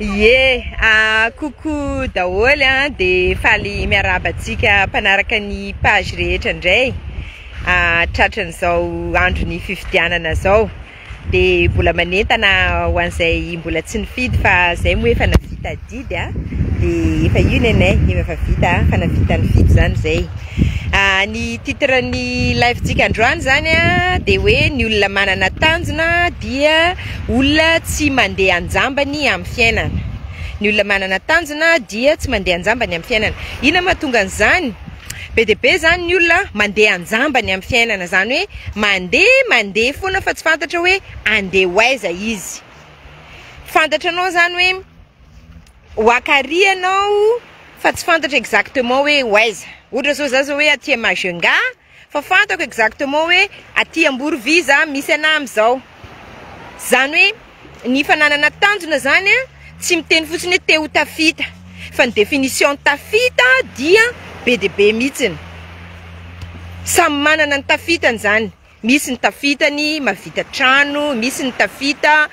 Ye! Coucou daholo a! De faly miarahaba antsika mpanaraka ny page rehetra ndray tratran'izao andron'ny fifidianana zao, de mbola manentana ho an'izay mbola tsy nifidy fa zay moa efa navita adidy a de efa io nenay efa vita fa navita nifidy zany zay. Ny titre ny live tsika androany zany a de hoe ny olona manana tanjona dia olona tsy mande anjambany amy fiainana ny olona manana tanjona dia tsy mande anjambany amy fiainana ina mahatonga an zany be de be zany ny olona mande anjambany amy fiainana zany hoe mande mande fona fa tsy fantatra hoe ande ho aiza izy fantatra anao zany hoe Waka ary ianao fa tsy fantatra exactement hoe ho aiza. Ohatra zao za zao hoe aty à Majunga fa fantako exactement hoe aty Amborovisa misy anah amizao. Zany hoe ny fananana tanjona zany a tsy miteny fotsiny hoe te ho tafita fa ny définition ny tafita dia be dia be mihitsiny. Samy manana ny tafitany zany, misy ny tafitany mahavita trano, misy ny tafita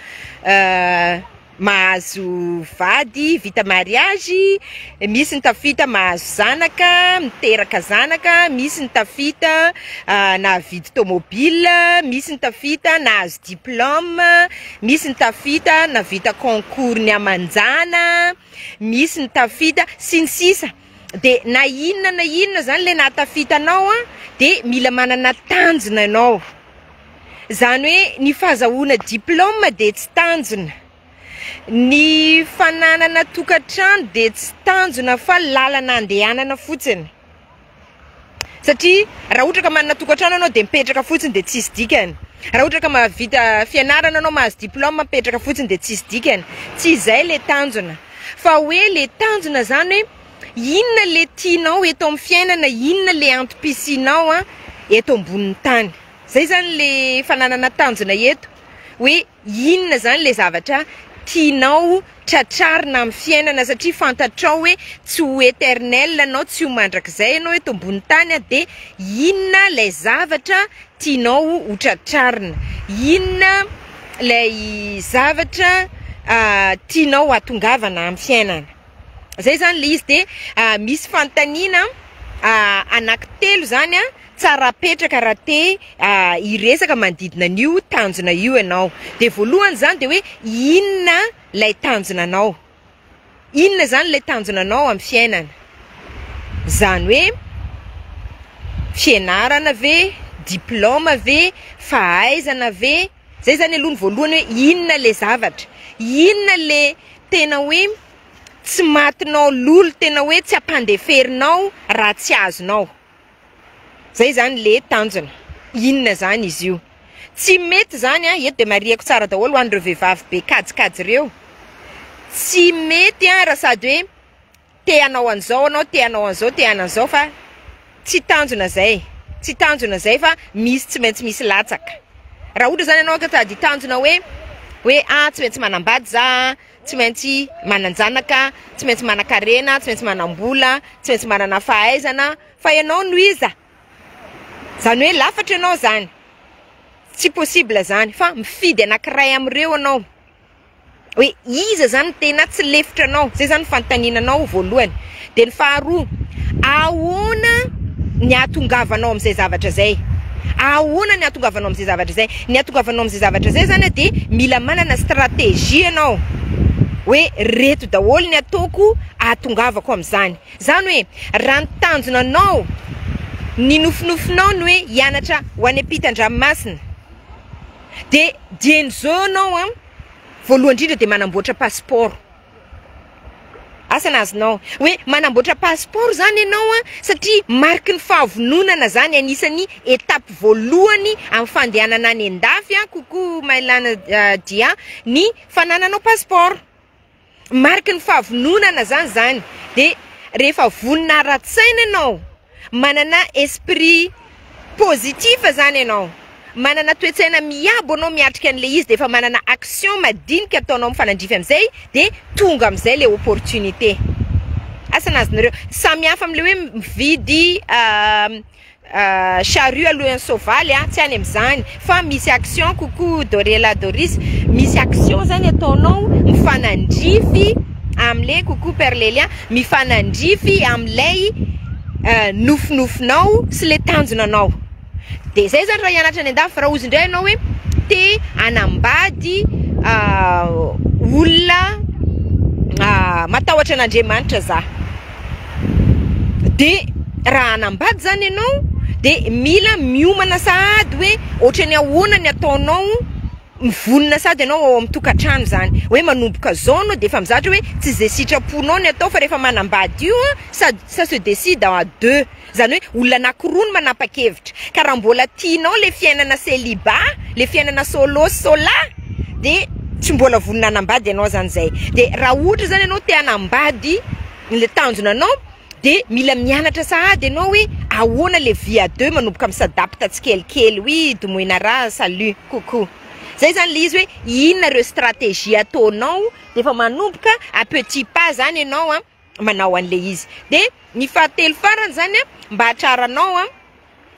mahazo vady, vita mariazy, misy ny tafita mahazo zanaka, miteraka zanaka, misy ny tafita nahavidy tomobila, misy ny tafita nahazo diplôme, misy ny tafita nahavita concours ny amanjana, misy ny tafita sy ny sisa. de na inona na inona zany le nahatafita anao a de mila manana tanjona ianao zany hoe ny fahazahoana diplôme de tsy tanjona ny fananana tokantrano de tsy tanjona fa lalana andehanana fotsiny. Satria raha ohatra ka manana tokantrano ianao dia mipetraka fotsiny dia tsisy dikany. Raha ohatra ka mahavita fianarana ianao, mahazo diploma, mipetraka fotsiny dia tsisy dikany. Tsy izay ilay tanjona. Fa hoe ilay tanjona izany hoe inona ilay tianao eto amin'ny fiainana, inona ilay antom-pisianao eto ambonin'ny tany. Izay izany ilay fananana tanjona eto. Hoe inona izany ilay zavatra tianao tratrarina amin'ny fiainana satria fantatrao hoe tsy ho eternel ianao, tsy ho mandrakizay ianao eto ambony tany dia inona ilay zavatra tianao ho tratrarina, inona ilay zavatra tianao hatongavana amin'ny fiainana. Izay izany ilay izy dia misy fanontaniana anaky telo izany. Tsara apetraka raha te hiresaka manodidina an'io tanjona io ianao. Dia voalohany izany dia hoe inona ilay tanjonanao? Inona izany ilay tanjonanao amin'ny fiainana? Izany hoe fianarana ve, diplaoma ve, fahaizana ve? Izay izany aloha ny voalohany hoe inona ilay zavatra? Inona ilay tena hoe tsy matinao lolo, tena hoe tsy ampandeferinao raha tsy azonao? Zay zany le tanjona. Inona zany izy io? Tsy mety zany an, eto de marihiko tsara daholo ho an'ireo vehivavy be kajikajy reo, tsy mety an raha sady hoe te hanao an'izao anao, te hanao an'izao, te hanao an'izao fa tsy tanjona zay, tsy tanjona zay fa misy tsy maintsy misy latsaka. Raha ohatra zany anao ka sady tanjona hoe hoe ah tsy maintsy manambady za an. tsy maintsy manan-janaka, tsy maintsy manan-karena, tsy maintsy manam-bola, tsy maintsy manana fahaizana fa ianao no iza? zany hoe lafatra ianao zany, tsy possible zany fa mifidy anakiray amin'ireo ianao hoe iza zany no tena tsy lefitra anao, zay zany ny fanontaniana anao voalohany. Dia ny faharoa, ahoana ny ahatongavanao amin'izay zavatra izay? Ahoana ny ahatongavanao amin'izay zavatra izay? Ny ahatongavanao amin'izay zavatra izay izany dia mila manana stratégie ianao hoe reto daholo ny ataoko ahatongavako amin'izany. Izany hoe raha ny tanjona anao, ny nofinofinao ny hoe hianatra ho any ampitan-dranomasina dia dieny zao ianao, voalohany indrindra dia manamboatra passeport. Asa ny azonao hoe manamboatra passeport zany ianao an, satria mariky ny fahavononana zany, anisan'ny étape voalohany amin'ny fandehanana any an-dafy an, coucou Mailana Dia ny fanananao passeport, mariky ny fahavononana zany zany, dia rehefa vonona ara-tsaina ianao, Manana esprit positif zany ianao, manana toe-tsaina miabo ianao miatrika an'ilay izy dia efa manana action madinika ataonao mifanandrify amin'izay dia tonga amin'izay ilay opportunité. Asa ny azonareo? Tsy samy hafa amin'ilay hoe mividy charrue alohan'ny soavaly an, tsy any amin'izany. fa misy action coucou Dorela Doris misy action zany ataonao mifanandrify amle coucou père Lelia mifanandrify amlay nofinofinao sy le tanjona nao de zay zany raha hianatra any andafy raha ozy ndray enao hoe te hanambady olona matahotra an'Andriamanitra za. de raha hanambady zany ianao de mila miomana sahady hoe otrany ahoana ny ataonao mivonona sady ianao ao amin'ny tokantrano zany hoe manomboka zao anao de efa mizatra hoe tsy ze sitraponao ny atao fa refa manambady io an sa se decide à deux. Zany hoe olona anakiroa no manapakevitra ka raha mbola tianao le fiainana celibat le fiainana solo sy sola de tsy mbola vonona hanambady ianao zany zay de raha ohatra zany ianao te hanambady le tanjona anao de mila mianatra sahady ianao hoe ahoana le vie à deux manomboka mi s'adapte tsikelikely oui domoina ra salut coucou zay zany le izy hoe inona reo strategie ataonao de efa manomboka à petit pas zany ianao an. manao an'ilay izy dia ny fahatelo farany zany a mba hatraranao a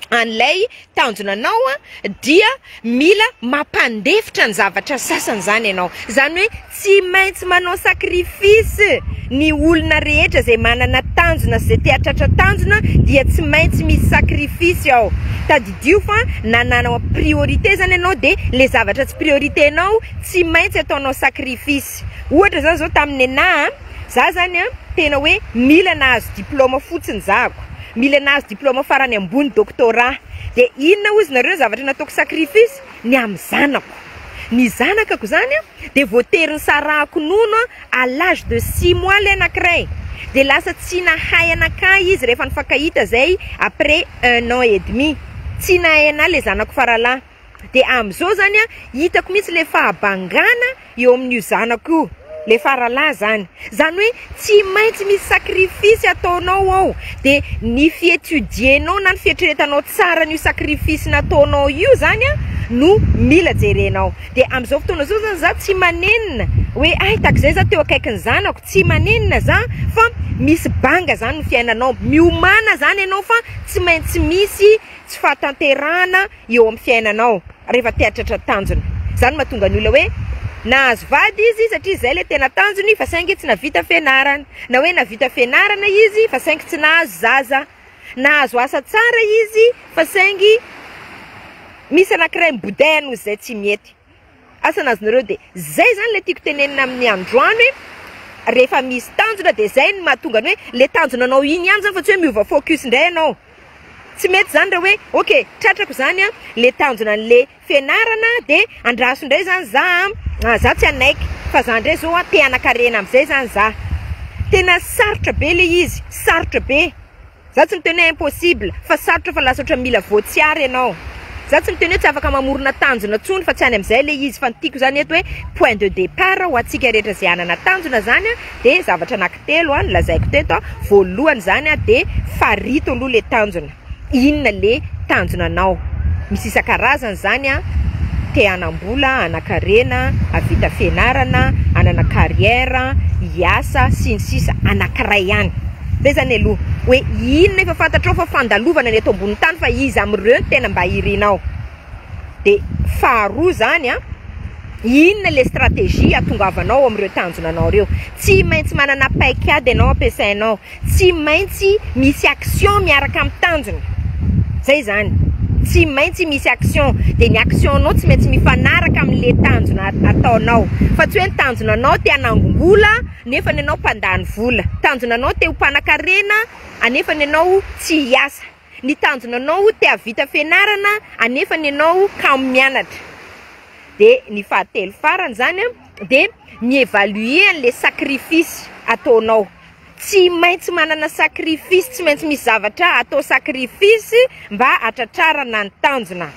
an'ilay tanjona anao a dia mila mampandefitra ny zavatra sasany zany ianao zany hoe tsy maintsy manao sacrifice ny olona rehetra izay manana tanjona sy izay te hahatratra tanjona dia tsy maintsy misy sacrifice ao tadidio fa nananao priorité zany ianao dia le zavatra tsy priorité anao tsy maintsy ataonao sacrifice ohatra zany zao tamin'ny nenaha Za zany an tena hoe mila nahazo diploma fotsiny zako, mila nahazo diploma farany ambony doctorat de inona ozy nareo zavatra nataoko sacrifice ny amin'ny zanako, ny zanakako zany an de voatery nisarahako nono à l'âge de six mois ilay anakiray de lasa tsy nahay anakay izy rehefa nifankahita zay après un an et demi, tsy nahay anah le zanako faralahy. de amzao zany a hitako mihitsy le fahabangana eo amin'io zanako io le faralahy zany zany hoe tsy maintsy misy sacrifice ataonao ao de ny fietudie-nao na ny fieritreretanao tsara an'io sacrifice nataonao io zany a no mila jerenao de amzao fotoana zao zany za tsy manenina hoe ay takzay za teo akaikin'ny zanako tsy manenina za fa misy banga zany ny fiainanao miomana zany ianao fa tsy maintsy misy tsy fahatanterahana eo amin'ny fiainanao rehefa tehatratra tanjona. Izany no mahatonga ny olona hoe nahazo vady izy satria izay ilay tena tanjony fa saingy tsy nahavita fianarana, na hoe nahavita fianarana izy fa saingy tsy nahazo zaza, nahazo asa tsara izy fa saingy misy anankiray mibodèha noho izay tsy mety. Asa nazy nareo de zay zany le tiako tenenina amin'ny androany hoe rehefa misy tanjona de zay no mahatonga ny hoe le tanjona anao iny ihany zany fa tsy hoe miova focus ndray ianao tsy mety zany raha hoe ok tratrako zany an le tanjona anle fianarana de andraso ndray zany za an za tsy hanaiky fa za ndray zao an te hanakarena amizay zany za tena sarotra be le izy sarotra be Za tsy miteny hoe impossible fa sarotra fa lasa otrany mila voatsiary ianao. Za tsy miteny hoe tsy afaka mamorona tanjona tsony fa tsy any amzay le izy fa ny tiko zany eto hoe point de depart ho atsika rehetra ze anana tanjona zany a de zavatra anaky telo a nolazaiko teto a voalohany zany a de farito aloha le tanjona inona le tanjona anao misy isakarazany zany a te hanambola hanakarena havita fianarana hanana carrière hiasa sy ny sisa anakiray ihany. Zay zany aloha hoe inona efa fantatrao fa fandalovana ny eto ambony tany fa iza amin'ireo no tena mba irinao? Dia faharoa zany an, inona le stratégie ahatongavanao amin'ireo tanjona anao ireo? Tsy maintsy manana paik'ady ianao ampiasainao, tsy maintsy misy action miaraka amin'ny tanjona, zay zany, tsy maintsy misy action, dia ny action nao tsy maintsy mifanaraka amin'le tanjona ataonao, fa tsy hoe ny tanjona anao te hanangom-bola, nefa ny anao mpandany vola, tanjona anao te ho mpanakarena anefa ny anao tsy hiasa, ny tanjona anao te havita fianarana anefa ny anao kamo mianatra, de ny fahatelo farany zany a de mi-evaluer anle sacrifice ataonao, tsy maintsy manana sacrifice, tsy maintsy misy zavatra atao sacrifice mba hatratrarana ny tanjona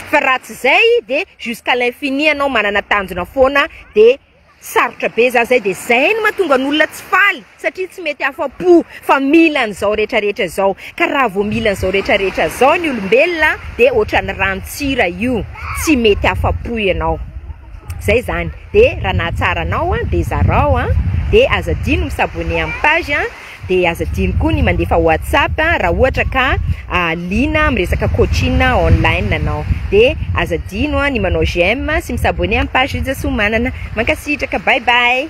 fa raha tsy zay de jusqu'à l'infini anao manana tanjona foana de. Sarotra be za zay de zay no mahatonga ny olona tsy faly satria tsy mety afa-po fa mila an'izao rehetra rehetra izao ka raha vao mila an'izao rehetra rehetra zao ny olombelona de ohatran'ny ranontsira io tsy mety afa-po ianao zay zany de raha nahatsara anao de zarao a de aza adino mi s'abonner amin'ny page a. dia aza adino koa ny mandefa WhatsApp raha ohatra ka liana miresaka coaching online ianao, dia aza adino ny manao j'aime sy mi s'abonner amin'ny page Rija Soamanana. Mankasitraka, bye bye.